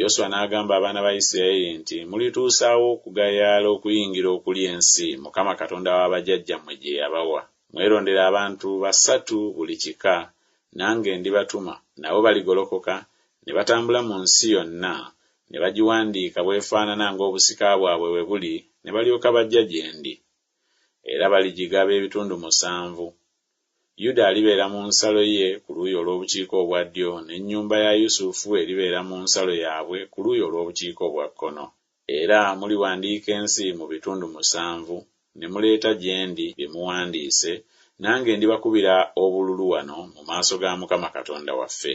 Yoswa n'agamba abaana ba Yisirayeli nti, Mulituusaawa okugayaala okuyingira okulya ensi Mukama Katonda wa bajjajjammwe gye yabawa? Mwerondere abantu basatu buli kika, nange ndibatuma, nabo baligolokoka ne batambula mu nsi yonna, ne bagiwandiika bw'efaanana ng'obusika bwabwe bwe buli, ne balyoka bajja gye ndi. Era baligigaba ebitundu musanvu. Yuda alibeera mu nsalo ye ku luuyi olw'obukiika obwa ddyo, n'ennyumba ya Yusufu eribeera mu nsalo yaabwe ku luuyi olw'obukiika obwa kkono. Era muliwandiika ensi mu bitundu musanvu, ne muleeta gye ndi bye muwandiise, nange ndibakubira obululu wano mu maaso ga Mukama Katonda waffe.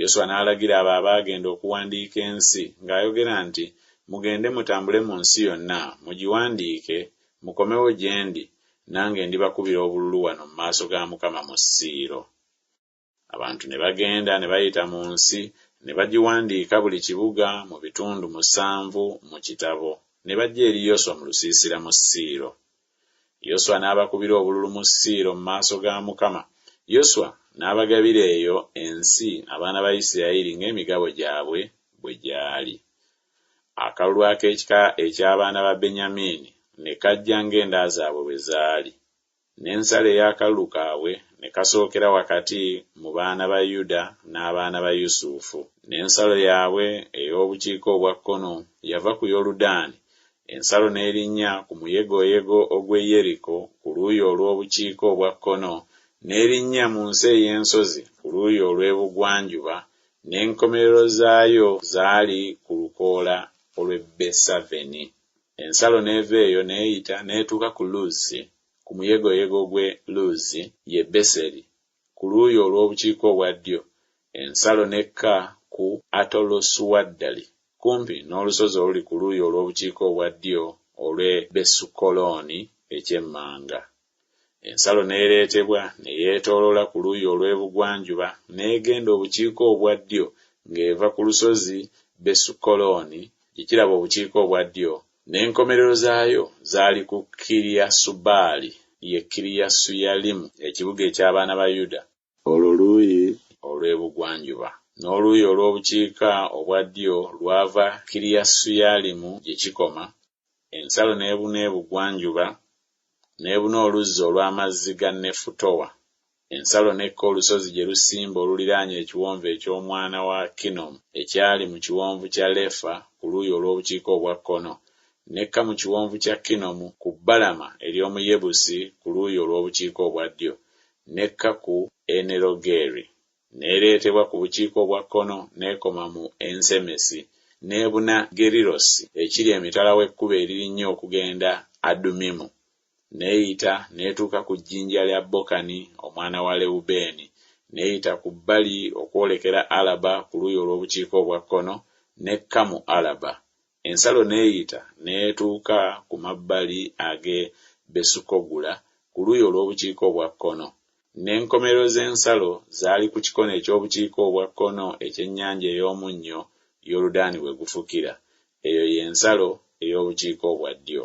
Yoswa n'alagira abo abaagenda okuwandiika ensi, ng'ayogera nti, Mugende mutambule mu nsi yonna, mugiwandiike, mukomewo gye ndi, nange ndibakubira obululu wano mu maaso ga Mukama mu Siiro. Abantu ne bagenda ne bayita mu nsi, ne bagiwandiika buli kibuga mu bitundu musanvu mu kitabo, ne bajja eri Yoswa mu lusiisira mu Siiro. Yoswa n'abakubira obululu mu Siiro mu maaso ga Mukama, Yoswa n'abagabira eyo ensi abaana ba Yisirayeli ng'emigabo gyabwe bwe gyali. Akalulu ak'ekika eky'abaana ba Benyamiini ne kajja ng'enda zaabwe bwe zaali, n'ensalo ey'akalulu kaabwe ne kasookera wakati mu baana ba Yuda n'abaana ba Yusufu. N'ensalo yaabwe ey'obukiika obwa kkono yava ku Yoludaani Ensalo n'erinnya ku muyegoyego ogw'e Yeriko ku luuyi olw'obukiika obwa kkono, n'erinnya mu nsi ey'ensozi ku luuyi olw'ebugwanjuba, n'enkomerero zaayo zaali ku lukoola olw'e Besaveni. Ensalo n'eva eyo n'eyita n'etuuka ku Luzi, ku muyegoyego gw'e Luzi, ye Beseri, Ku luuyi olw'obukiika obwa ddyo, ensalo n'ekka ku Atalosuaddali, kumpi n'olusozi oluli ku luuyi olw'obukiika obwa ddyo olw'e Besukoloni eky'emmanga. Ensalo n'ereetebwa ne yeetooloola ku luuyi olw'ebugwanjuba n'egenda obukiika obwa ddyo ng'eva ku lusozi Besukoloni gye kiraba obukiika obwa ddyo N'enkomerero zaayo zaali ku Kiriyasubaali, ye Kiriyasuyalimu, ekibuga eky'abaana ba Yuda. Olwo luuyi olw'ebugwanjuba. N'oluuyi olw'obukiika obwa ddyo lwava Kiriyasuyalimu gye kikoma, ensalo n'ebuna ebugwanjuba, n'ebuna oluzzi olw'amazzi ga Nefutoa, Ensalo n'ekka olusozi gye lusimba oluliraanye Ekiwonvu eky'Omwana wa Kinnomu ekyali mu Kiwonvu kya Lefa ku luuyi olw'obukiika obwa kkono, n'ekka mu Kiwonvu kya Kinnomu ku bbalama ery'omu Yebusi ku luuyi olw'obukiika obwa ddyo, n'ekka ku Enerogeri, n'ereetebwa ku bukiika obwa kkono n'ekoma mu Ensemesi, n'ebuna Gerirosi ekiri emitala w'ekkubo eririnnya okugenda Adumimu, n'eyita n'etuuka ku jjinja lya Bokani omwana wa Lewubeeni, n'eyita ku bbali okwolekera Alaba ku luuyi olw'obukiika obwa kkono, n'ekka mu Alaba. Ensalo n'eyita n'etuuka ku mabbali ag'e Besukogula ku luuyi olw'obukiika obwa kkono. N'enkomerero z'ensalo zaali ku kikono eky'obukiika obwa kkono eky'Ennyanja ey'Omunnyo, Yoludaani we gufukira. Eyo ye nsalo ey'obukiika obwa ddyo.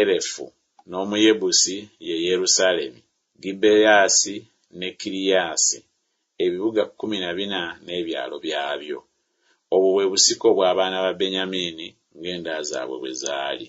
Erefu, n'Omuyebusi ye Yerusaalemi, Gibeasi ne Kiriasi, ebibuga kkumi na bina n'ebyalo byabyo. Obwo bwe busika obw'abaana ba Benyamiini ng'enda zaabwe bwe zaali.